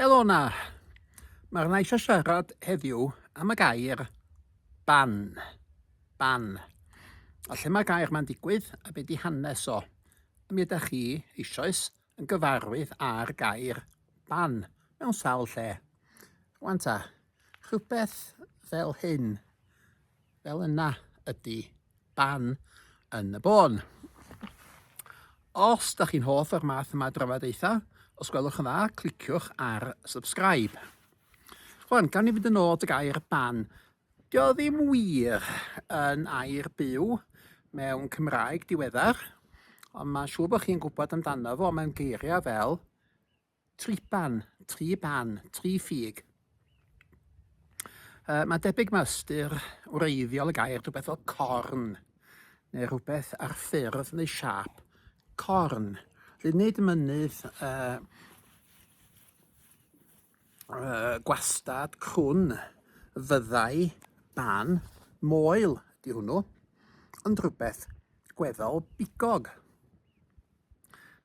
Helo na! Mae'r na eisiau siarad heddiw am y gair ban. Ban. A lle mae'r gair ma'n digwydd a beth di hanes o. A mi ydych chi eisoes yn gyfarwydd â'r gair ban mewn sawl lle. Rwan ta, rhywbeth fel hyn. Fel yna ydy ban yn y bôn. Os da chi'n hoff o'r math yma drafodaethau, os gwelwch yn dda, cliciwch ar subscribe. Rwan, gan i fynd yn ôl dy gair ban, dio ddim wir yn air byw mewn Cymraeg diweddar, ond mae'n siŵr bod chi'n gwybod amdano fo, mae'n geiriau fel Triban, tri ban, tri ffug. Uh, mae debyg mae ystyr wreiddiol y gair rhywbeth fel corn, neu rhywbeth ar ffurf neu siap corn. Felly nid mynydd uh, uh, gwastad crwn fyddai ban moel di hwnnw, ond rhywbeth gweddol bigog.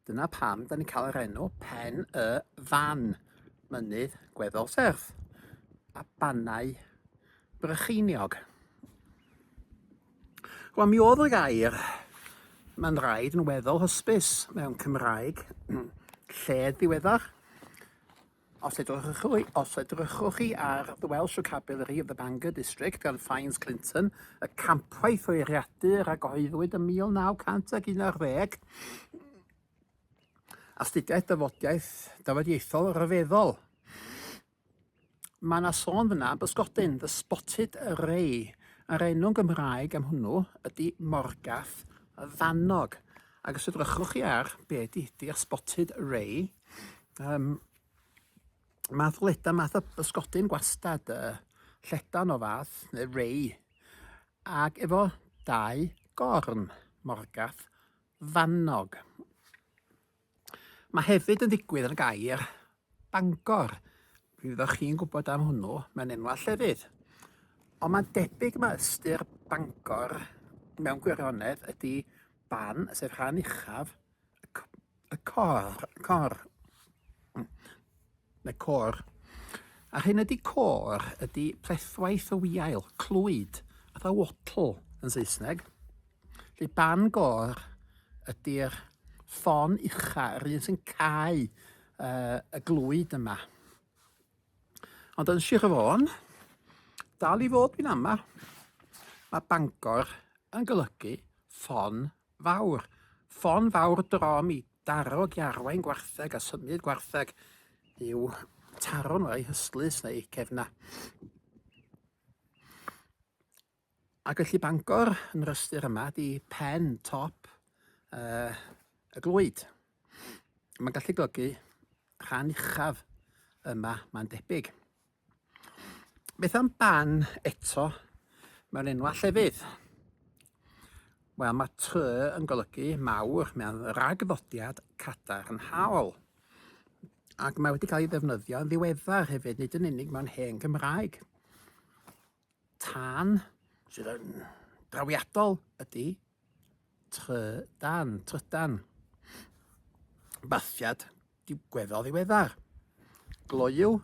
Dyna pam da ni'n cael yr enw Pen y Fan, mynydd gweddol serth, a bannau brycheiniog. Wel, mi oedd y gair mae'n rhaid yn weddol hysbys mewn Cymraeg lled ddiweddar. Os edrychwch chi ar The Welsh Vocabulary of the Bangor District gan Fynes Clinton, y campwaith o'i rhiadur a gyhoeddwyd ym 1911, astudiaeth dafodiaeth dafodieithol rhyfeddol. Mae yna sôn fyna am bysgodyn, the spotted ray, a'r enw'n Gymraeg am hwnnw ydy morgath y fannog. Ac os edrychwch chi ar be ydy ydy'r spotted ray, Um, math o leta, math o bysgodyn gwastad, uh, lledan o fath, neu rei, ac efo dau gorn, morgath, fannog. Mae hefyd yn ddigwydd yn gair Bangor. Mi fyddwch chi'n gwybod am hwnnw, mae'n enwa llefydd. Ond mae'n debyg mae ystyr Bangor mewn gwirionedd ydy ban, sef rhan uchaf, y cor, cor, neu cor. A hyn ydy cor, ydy plethwaith o wiail, clwyd, fatha wattle yn Saesneg. Felly ban gor ydy'r ffon ucha, yr un sy'n cael uh, y glwyd yma. Ond yn Sir Fôn, dal i fod fi'n ama, mae Bangor yn golygu ffon fawr, ffon fawr drom i darog i arwain gwartheg a symud gwartheg i'w taro nhw, eu hystlys neu eu cefna. A gallu Bangor yn yr ystyr yma di pen top uh, y glwyd. Mae'n gallu golygu rhan uchaf yma, mae'n debyg. Beth am ban eto mewn enwau llefydd? Wel, mae ty yn golygu mawr mewn rhagddodiad cadarnhaol. Ac mae wedi cael ei ddefnyddio yn ddiweddar hefyd, nid yn unig mewn hen Gymraeg. tân sydd yn drawiadol ydy trydan, trydan. Bathiad digweddol ddiweddar. Gloyw,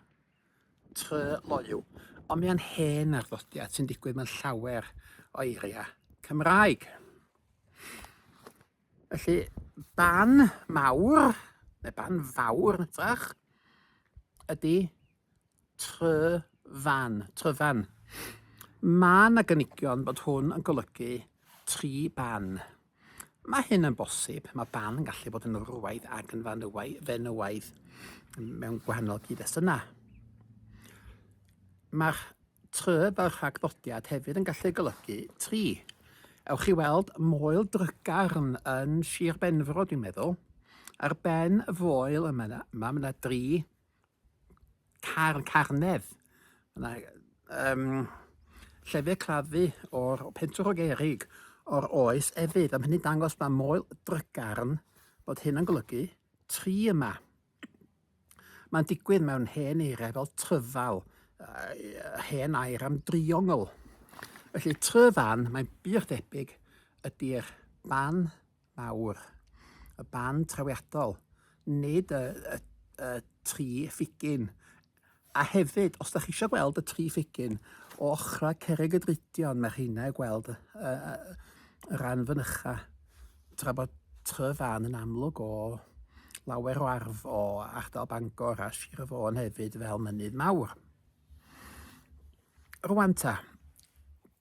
try loyw. Ond mae'n hen arddodiad sy'n digwydd mewn llawer o eiriau Cymraeg. Felly, ban mawr, neu ban fawr yn ytrach, ydy Tryfan, Tryfan. Mae yna gynigion bod hwn yn golygu tri ban. Mae hyn yn bosib, mae ban yn gallu bod yn wrwaidd ac yn fanywaidd, fenywaidd mewn gwahanol gyd-destunau. Mae'r try fel rhagddodiad hefyd yn gallu golygu tri. Ewch i weld moel drygarn yn Sir Benfro, dwi'n meddwl. Ar ben y foel yma, yma mae yna dri car yn Carnedd. Yna, um, llefydd claddu o'r pentwr o gerig o'r oes efydd. Am hynny dangos mae moel drygarn bod hyn yn golygu tri yma. Mae'n digwydd mewn hen eiriau fel tryfal, uh, hen air am driongl. Felly tryfan, mae'n bych debyg ydy'r ban mawr, y band trawiadol, nid y, y, y tri ffigyn. A hefyd, os da chi eisiau gweld y tri ffigyn o ochrau Cerrig y Dridion, mae rheina i gweld y, y, y ran fynycha, tra bod Tryfan yn amlwg o lawer o arf o ardal Bangor a Sir y Fôn hefyd fel mynydd mawr. Rwan ta,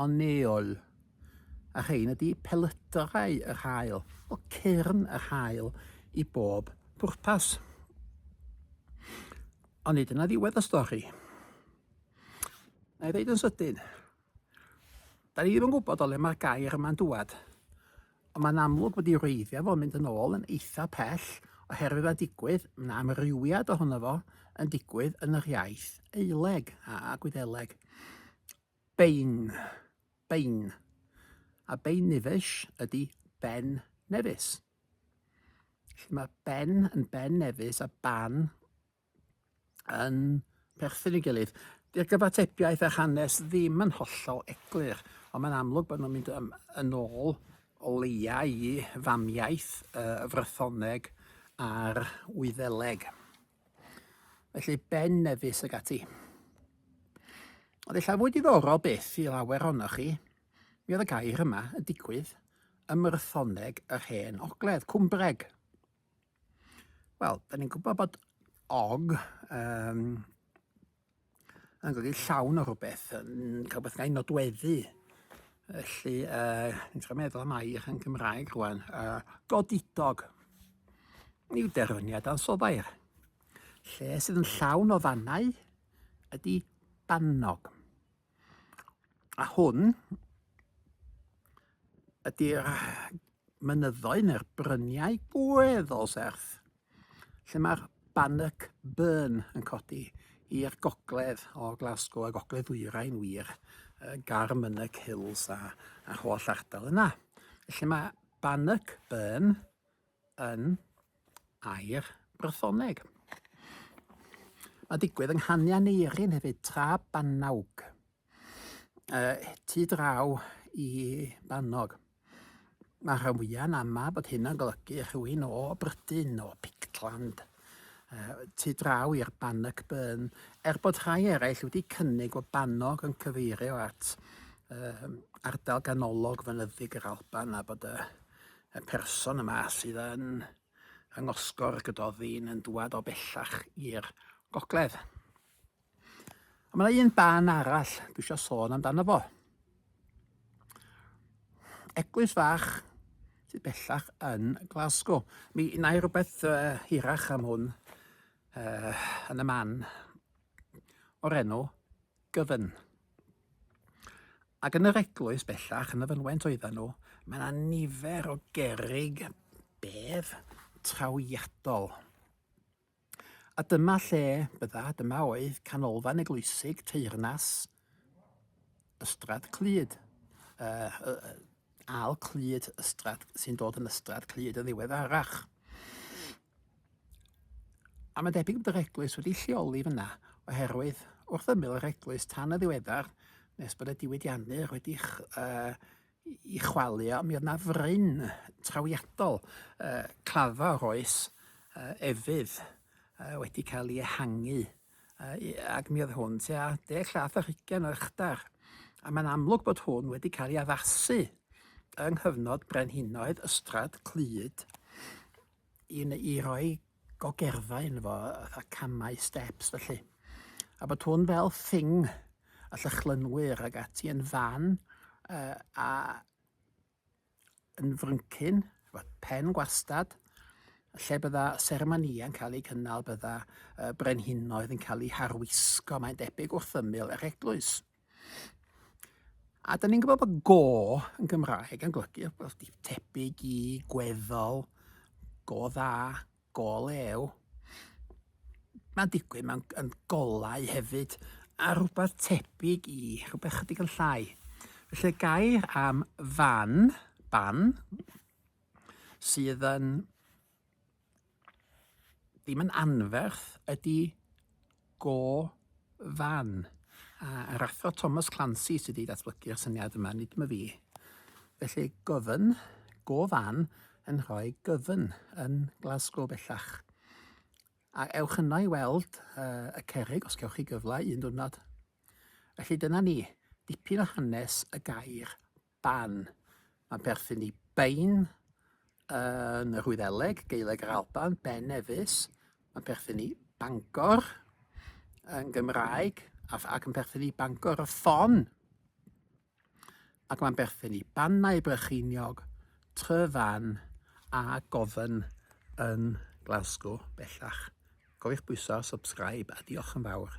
Anneol, a rhein ydy pelydrau yr haul, o cyrn yr haul i bob pwrpas. Ond nid yna ddiwedd y stori. Na i ddeud yn sydyn, da ni ddim yn gwybod o le mae'r gair yma'n dŵad, ond mae'n amlwg bod i wreiddiau fo'n mynd yn ôl yn eitha pell oherwydd mae'n digwydd, mae yna amrywiad ohono fo yn digwydd yn yr iaith Eileg a Gwyddeleg. Bein, bein, a bein nifesh ydi ben nefus. Felly mae ben yn ben nefus a ban yn perthyn i gilydd. Dy'r gyfatebiaeth a hanes ddim yn hollol eglur, ond mae'n amlwg bod nhw'n mynd yn, yn ôl o leia i famiaith y Frythoneg a'r Wyddeleg. Felly Ben Nevis ag ati. Oedd eich fwy diddorol byth i lawer ohonoch chi, mi oedd y gair yma yn digwydd ym Myrthoneg yr Hen Ogledd, Cwmbreg. Wel, da ni'n gwybod bod og um, yn golygu llawn o rhywbeth, yn cael rhywbeth gael ei nodweddu. Felly, uh, ni'n trio meddwl am air yn Gymraeg rwan, uh, godidog. Ni yw derfyniad ansofair. Lle sydd yn llawn o fannau ydy bannog. A hwn ydy'r mynyddoedd neu'r bryniau gweddol serth lle mae'r Bannock Burn yn codi i'r gogledd o Glasgow a gogledd ddwyrain wir, Garmynnock Hills a, a'r holl ardal yna. Felly mae Bannock Burn yn air Brythoneg. Mae'n digwydd yng nghanian Eirin hefyd, tra Banawg, uh, tu draw i Bannog. Mae rhan fwyaf yn ama bod hyn yn golygu rhywun o Brydyn, o Pictland, uh, tu draw i'r Bannock Burn, er bod rhai eraill wedi cynnig o Bannog yn cyfeirio at uh, ardal ganolog fynyddig yr Alban a bod y y person yma sydd yn yng Ngosgor Gododdin yn dŵad o bellach i'r gogledd. Ond mae yna un ban arall dwi eisiau sôn amdano fo. Eglwys fach sydd bellach yn Glasgow. Mi na i rhywbeth uh, hirach am hwn uh, yn y man o'r enw gyfan. Ac yn yr eglwys bellach, yn y fynwent oedden nhw, mae yna nifer o gerig bedd trawiadol. A dyma lle bydda, dyma oedd canolfan eglwysig teyrnas Ystrad Clyd. Uh, uh, al Clyd Ystrad sy'n dod yn Ystrad Clyd yn ddiweddarach. A mae'n debyg bod yr eglwys wedi'i lleoli fan'na oherwydd wrth ymyl yr eglwys tan yn ddiweddar, nes bod y diwydiannwyr wedi ei chwalu o, mi oedd 'na fryn trawiadol, claddfa o'r oes efydd wedi cael ei ehangu ac mi oedd hwn tua deg llath ar hugain o uchdar, a mae'n amlwg bod hwn wedi cael ei addasu yng nghyfnod brenhinoedd Ystrad Clud. i ni i roi gogerddau yn fo, fatha camau, steps felly. A bod hwn fel thing a llychlynwyr ag ati yn fan uh, a yn fryncyn, pen gwastad, lle bydda seremoniau'n cael eu cynnal, bydda uh, brenhinoedd yn cael eu harwisgo, mae'n debyg wrth ymyl yr eglwys. A da ni'n gwybod bod go yn Gymraeg yn golygu wrth di tebyg i, gweddol, go dda, go lew. Mae'n digwydd, mae'n golau hefyd, a rhywbeth tebyg i, rhywbeth chydig yn llai. Felly gair am fan, ban, sydd yn Ddim yn anferth ydi go fan. A yr athro Thomas Clancy sydd wedi datblygu'r syniad yma, nid yma fi. Felly gofyn, go fan yn rhoi gyfyn yn Glasgow bellach. A ewch yno i weld uh, y cerig os gewch chi gyfle un diwrnod. Felly dyna ni, dipyn o hanes y gair Ban, mae'n perthyn i Bain yn yr Wyddeleg, Gaeleg yr Alban, Ben Nevis, mae'n perthyn i Bangor yn Gymraeg ac yn perthyn i Bangor y Ffon ac mae'n berthyn i Bannau Brycheiniog, Tryfan a Gofen yn Glasgow bellach. Cofiwch bwyso subscribe a diolch yn fawr.